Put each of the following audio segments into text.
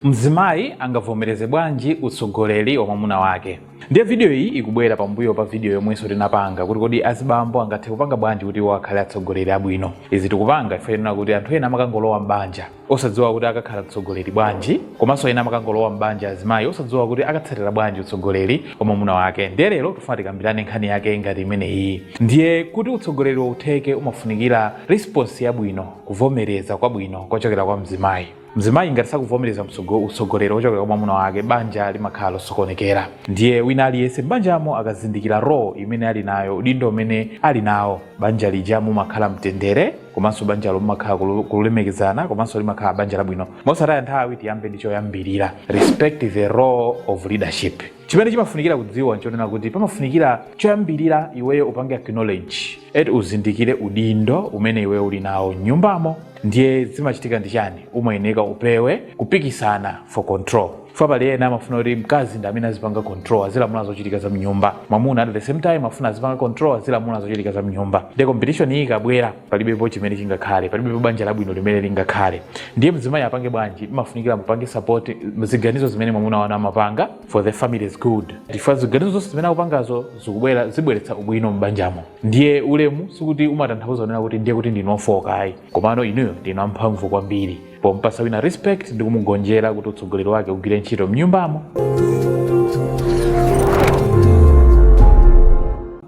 Mzimayi angavomereze bwanji utsogoleri wa mwamuna wake? Ndiye video iyi ikubwera pambuyo pa video yomwenso tinapanga kuti kodi azibambo angathe kupanga bwanji kuti iwo akhale atsogoleri abwino. Izi tikupanga chifukwa chonena kuti anthu ena amakangolowa m'banja osadziwa kuti akakhala mtsogoleri bwanji, komanso ena amakangolowa m'banja azimayi osadziwa kuti akatsatira bwanji utsogoleri wa mwamuna wake. Ndiye lero tifuna tikambirane nkhani yake ngati imeneyi. Ndiye kuti utsogoleriwo utheke umafunikira response yabwino, kuvomereza kwabwino kochokera kwa mzimayi. mzimayi ngati sakuvomereza mtsogo- utsogoleri wochokera kwa mwamuna wake banja limakhala losokonekera ndiye wina aliyense m'banjamo akazindikira role imene ali nayo udindo umene ali nawo banja lija mumakhala mtendere komanso banjalo mumakhala kulu- kulemekezana komanso limakhala banja labwino mosataya nthawi tiyambe ndi choyambirira respect the role of leadership chimene chimafunikira kudziwa nchonena kuti pamafunikira choyambirira iweyo upange acknowledge eti uzindikire udindo umene iweyo uli nawo mnyumbamo ndiye zimachitika ndi chani umayeneka upewe kupikisana for control chifukwa pali ena amafuna kuti mkazi ndi amene azipanga control azilamula zochitika za mnyumba mwamuna at the same time afuna azipanga control azilamula zochitika za mnyumba nde competition iyi ikabwera palibepo chimene chingakhale palibepo banja labwino limene lingakhale ndiye mzimayi apange bwanji imafunikira mupange support ziganizo zimene mwamuna wanu amapanga for the family's good chifukwa ziganizo zonse zimene akupangazo zikubwera zibweretsa ubwino m'banjamo ndiye ulemu sikuti umatanthauza kunena kuti ndiye kuti ndinu ofoka ayi komano inuyo ndinu amphamvu kwambiri pompasa wina respect ndi kumugonjera kuti utsogoleri wake ugwire ntchito mnyumbamo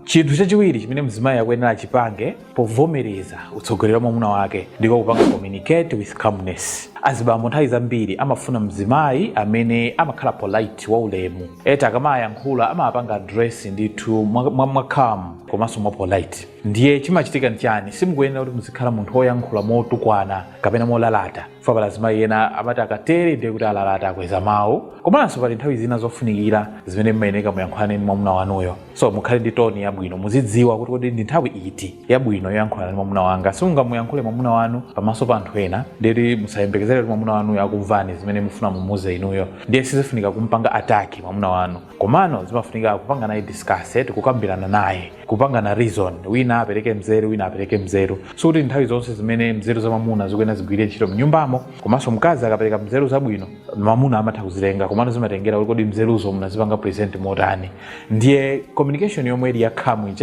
chinthu chachiwiri chimene mzimayi akuyenera achipange povomereza utsogoleri wa mwamuna wake ndiko kupanga communicate with calmness azibambo nthawi zambiri amafuna mzimayi amene amakhala polite waulemu eti akamayankhula amapanga address ndithu mwa- mwa- mwa calm komanso mwa polite ndiye chimachitika nchani simukuyenera kuti muzikhala munthu woyankhula motukwana kapena molalata chifukwa pali azimayi ena amati akatere ndiye kuti alalata akweza mawu komanso pali nthawi zina zofunikira zimene mmayeneka muyankhulane ndi mwamuna wanuyo so mukhale ndi tone yabwino muzidziwa kuti kodi ndi nthawi iti yabwino yoyankhulana ndi mwamuna wanga simungamuyankhule mwamuna wanu pamaso pa anthu ena ndiyeti musayembekezere kuti mwamuna wanuyo akumvani zimene mufuna mumuuze inuyo ndiye sizifunika kumpanga attack mwamuna wanu komano zimafunika kupanga naye discuss eti kukambirana naye kupangana reason wina apereke mzeru wina apereke mzeru sikuti nthawi zonse zimene mzeru za mamuna zikuyenera zigwire ntchito mnyumbamo komanso mkazi akapereka mzeru zabwino mamuna amatha kuzitenga komano zimatengera kuti kodi mzeruzo munazipanga present motani ndiye communication yomwe ili ya calm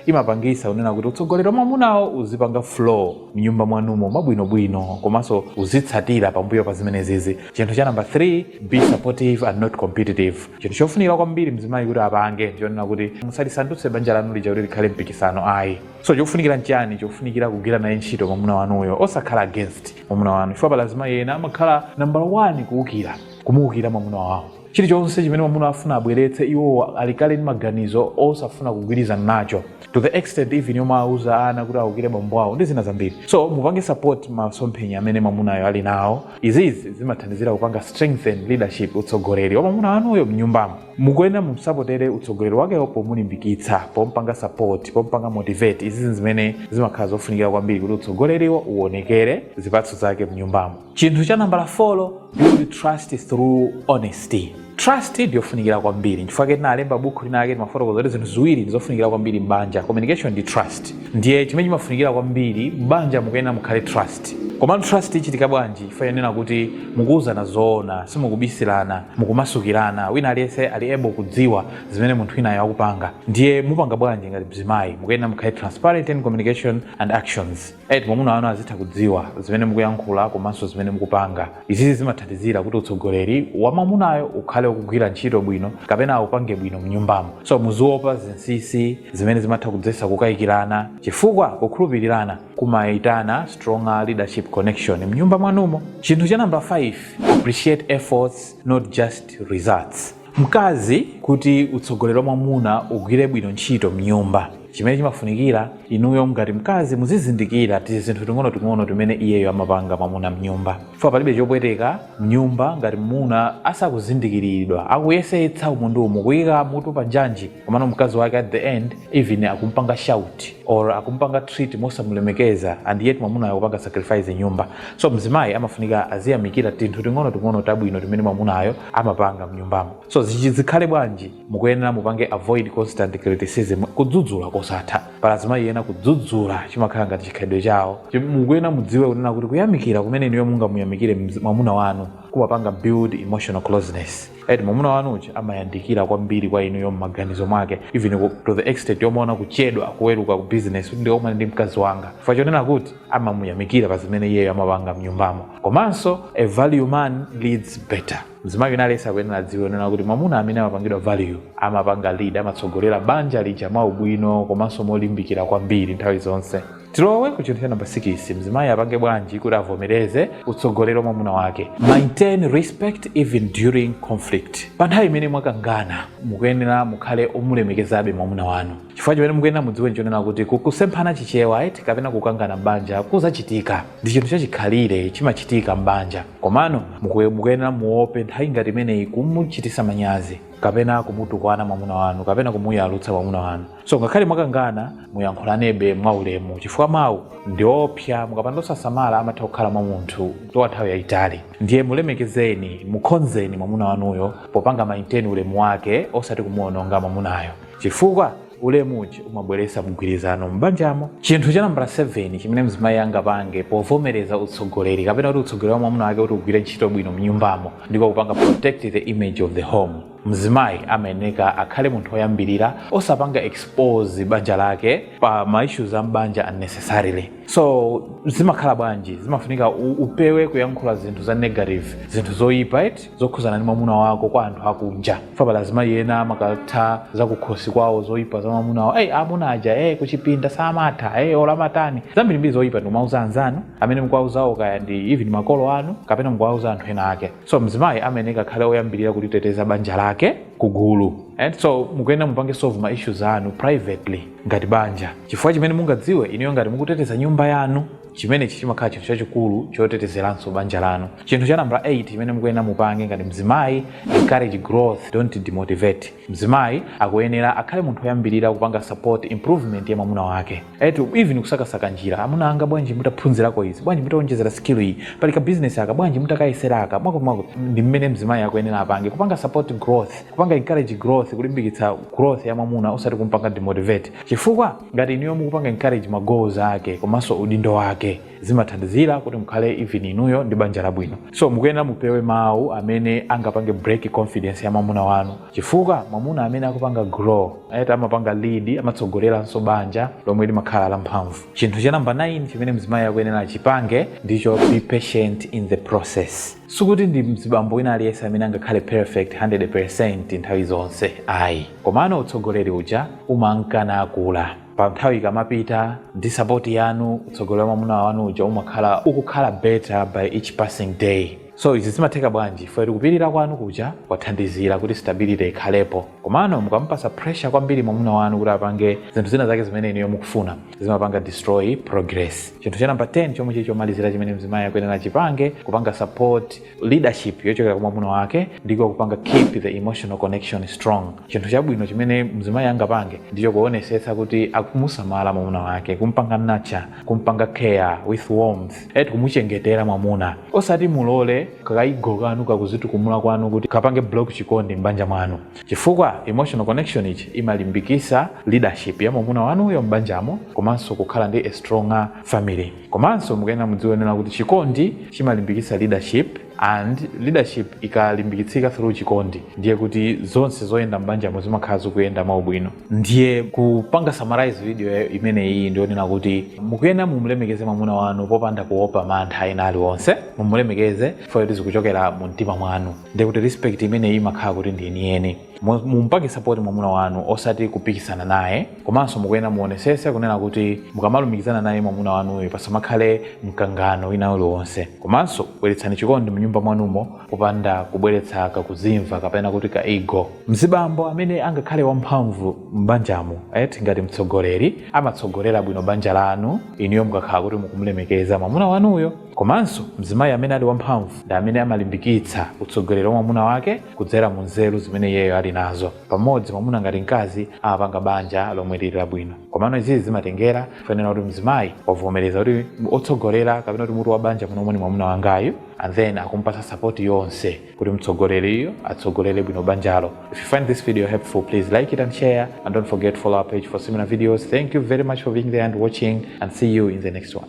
imapangisa kunena kuti utsogoleri wa mamunawo uzipanga flow mnyumba mwanumo mwabwinobwino komanso uzitsatira pambuyo pa zimenezizi chinthu cha number 3 be supportive and not competitive chinthu chofunikira kwambiri mzimayi kuti apange ndiyonena kuti musalisandutse banja lanu lija kuti likhale mpikisano ayi so chofunikira nchiyani chofunikira kugwira naye ntchito mwamuna wanuyo osakhala against mwamuna wanu chifukwa pali azimayi ena amakhala number 1 kuwukira kumuwukira mwamuna wawo chilichonse chimene mwamuna afuna abweretse iwo ali kale ndi maganizo osafuna kugwirizana nacho to the extent even yomwe auza ana kuti awukire bambo awo ndi zina zambiri so mupange support masomphenya amene mwamunayo ali nawo izizi zimathandizira kupanga strengthen leadership utsogoleri wa mwamuna wanuyo mnyumbamo mukuyenera mumsapotere utsogoleri wakewo pomulimbikitsa pompanga support pompanga motivate izizi zimene zimakhala zofunikira kwambiri kuti utsogoleriwo uonekere zipatso zake mnyumbamo chinthu cha nambala 4 build trust through honesty trust ndi yofunikira kwambiri chifukwa chake tinalemba bukhu lina lake timafotokoza kuti zinthu ziwiri ndi zofunikira kwambiri m'banja communication ndi trust ndiye chimene chimafunikira kwambiri m'banja mukuyenera mukhale ndi trust komano trust ichitika bwanji chifukwa chonena kuti mukuwuzana zoona simukubisirana mukumasukirana wina aliyense ali able kudziwa zimene munthu winayo akupanga ndiye mupanga bwanji ngati mzimayi mukuyenera mukhale transparent in communication and actions eti mwamuna wanu azitha kudziwa zimene mukuyankhula komanso zimene mukupanga. Izizi zimathandizira kuti utsogoleri wa mwamunayo ukhale ukugwira ntchito bwino kapena aupange bwino mnyumbamo. So muziwopa zinsisi zimene zimatha kudzetsa kukayikirana chifukwa kukhulupirirana kumayitana stronger leadership connection mnyumba mwanumo. Chinthu cha number 5, appreciate efforts not just results. mkazi kuti utsogoleri wa mwamuna ugwire bwino ntchito mnyumba chimene chimafunikira inuyo ngati mkazi muzizindikira tizinthu ting'onoting'ono timene iyeyo amapanga mwamuna mnyumba chifukwa palibe chopweteka mnyumba ngati mmuna asakuzindikiridwa akuyesetsa umu ndi umu kuyika mutu pa njanji komano mkazi wake at the end even akumpanga shout or akumpanga treat mosamulemekeza and yet mwamunayo akupanga sacrifice mnyumba so mzimayi amafunika aziyamikira tinthu ting'ono ting'ono tabwino timene mwamunayo amapanga mnyumbamo so izi zikhale bwanji mukuyenera mupange avoid constant criticism kudzudzula kosatha pali azimayi ena kudzudzula chimakhala ngati chikhalidwe chawo Chi- mukuyenera mudziwe kunena kuti kuyamikira kumene inuyo mungamuyamikire mzi- mwamuna wanu kumapanga build emotional closeness eti mwamuna wanu uja amayandikira kwambiri kwa inuyo m'maganizo mwake even ku- to the extent yomaona kuchedwa kuweruka ku business kuti ndikakumane ndi mkazi wanga chifukwa chonena kuti amamuyamikira pa zimene iyeyo amapanga mnyumbamo komanso a valued man leads better mzimayi wina aliyense akuyenera adziwe zonena kuti mwamuna amene amapangidwa value amapanga lead amatsogolera banja lija mwaubwino komanso molimbikira kwambiri nthawi zonse tilowe ku chinthu cha namba 6 mzimayi apange bwanji kuti avomereze utsogolero wa mwamuna wake maintain respect even during conflict pa nthawi imene mwakangana mukuyenera mukhale omulemekezabe mwamuna wanu chifukwa chimene mukuyenera mudziwe nchonena kuti kukusemphana Chichewa eti kapena kukangana m'banja kuzachitika ndi chinthu chachikhalire chimachitika m'banja komano mukuye- mukuyenera muope nthawi ngati imeneyi kumuchitisa manyazi kapena kumutukwana mwamuna wanu kapena kumuyalutsa mwamuna wanu so ngakhale mwakangana muyankhulanebe mwaulemu chifukwa mawu ndi opsa mukapanda osasamala amatha kukhala mwa munthu kwa nthawi yayitali ndiye mulemekezeni mukhonzeni mwamuna wanuyo popanga maintain ulemu wake osati kumuononga mwamunayo chifukwa ulemu uja umabweretsa mgwirizano m'banjamo chinthu cha nambala 7 chimene mzimayi angapange povomereza utsogoleri kapena kuti utsogoleri wa mwamuna wake kuti ugwire ntchito bwino mnyumbamo ndiko kupanga protect the image of the home mzimayi amayeneka akhale munthu oyambirira osapanga expose banja lake pa ma issues a m'banja unnecessarily so zimakhala bwanji zimafunika u- upewe kuyankhula zinthu za negative zinthu zoyipa eti zokhuzana ndi mwamuna wako kwa anthu akunja for example azimayi ena amakatha kukamba zakukhosi kwawo zoyipa za mwamuna wawo eyi amuna aja e kuchipinda samatha e olamatani zambirimbiri zoyipa ndikumauza anzanu amene mukuwauzawo kaya ndi even makolo anu kapena mukuwauza anthu ena ake so mzimayi amayeneka akhale oyambirira kuliteteza banja lake ku gulu and so mukuyenera mupange solve ma issues anu privately ngati banja chifukwa chimene mungadziwe inuyo ngati mukuteteza nyumba yanu chimenechi chimakhala chinthu chachikulu chotetezeranso banja lanu chinthu cha nambala 8 chimene mukuyenera mupange ngati mzimayi encourage growth don't demotivate Mzimayi akuyenera akhale munthu oyambilira kupanga support improvement ya mwamuna wake. Eti even kusakasaka njira, amuna anga bwanji mutaphunzirako izi, bwanji mutaonjezera skill iyi, pali ka business aka, bwanji mutakayesera aka, mwakuti mwakuti. Ndi mmene mzimayi akuyenera apange. Kupanga support growth, kupanga encourage growth, kulimbikitsa growth ya mwamuna osati kumpanga demotivate. Chifukwa ngati inuyo mukupanga encourage ma goals ake komanso udindo wake. zimathandizira kuti mukhale even inuyo ndi banja labwino so mukuyenera mupewe mawu amene angapange break confidence ya mwamuna wanu chifukwa mwamuna amene akupanga grow ayati amapanga lead amatsogoleranso banja lomwe limakhala lamphamvu chinthu cha namba 9 chimene mzimayi akuyenera achipange ndicho be patient in the process sikuti ndi mzibambo wina aliyense amene angakhale perfect 100 percent nthawi zonse ayi komano utsogoleri uja umankanakula pa nthawi ikamapita ndi sapoti yanu utsogoleri wa mwamuna wanu uja umakhala ukukhala better by each passing day so izi zimatheka bwanji eti kupirira kwanu kuja kumathandizira kuti stability ikhalepo komano mukamupasa pressure kwambiri mwamuna wanu kuti apange zinthu zina zake zimene inuyo mukufuna zimapanga destroy progress chinthu cha namba 10 chomwe chili chomalizira chimene mzimayi akuyenera chipange kupanga support leadership yochokera kwa mwamuna wake ndiko kupanga keep the emotional connection strong chinthu chabwino chimene mzimayi angapange ndicho kuonesetsa kuti akumusamala mwamuna wake kumpanga nurture kumpanga care with warmth eti kumuchengetera mwamuna osati mulole ka ego kanu kakuzitukumula kwanu kuti kapange block chikondi m'banja mwanu chifukwa emotional connection ichi imalimbikisa leadership ya mwamuna wanuyo m'banjamo komanso kukhala ndi a stronger family Komanso mukuyenera mudziwe zonena kuti chikondi chimalimbikitsa leadership and leadership ikalimbikitsika through chikondi ndiye kuti zonse zoyenda m'banjamo zimakhala zikuyenda mwaubwino. Ndiye kupanga summarize video imeneyi ndi yonena kuti mukuyenera mumulemekeze mwamuna wanu popanda kuopa mantha ena aliwonse, mumulemekeze chifukwa choti zikuchokera mu mtima mwanu ndiye kuti respect imeneyi imakhala kuti ndi yeniyeni. Mu- mumpatse sapoti mwamuna wanu osati kupikisana naye komanso mukuyenera muonesese kunena kuti mukamalumikizana naye mwamuna wanuyo pasamakhale mkangano wina uliwonse komanso bweretsani chikondi mnyumba mwanumo popanda kubweretsa kakuzimva kapena kuti ka ego mzibambo amene angakhale wamphamvu m'banjamo eti ngati mtsogoleri amatsogolera bwino banja lanu inuyo mukakhala kuti mukumlemekeza mwamuna wanuyo Komanso, mzimayi amene ali wamphamvu ndi amene amalimbikitsa utsogoleri wa mwamuna wake kudzera mu nzeru zimene iyeyo ali nazo. Pamodzi, mwamuna ndi mkazi amapanga banja lomwe liri labwino. Komano izizi zimatengera zonena kuti mzimayi wavomereza kuti otsogolera kapena kuti mutu wa banja munomo ni mwamuna wangayu and then akumpatsa support yonse kuti mtsogoleriyu atsogolere bwino banjalo. If you find this video helpful, please like it and share and don't forget to follow our page for similar videos. Thank you very much for being there and watching and see you in the next one.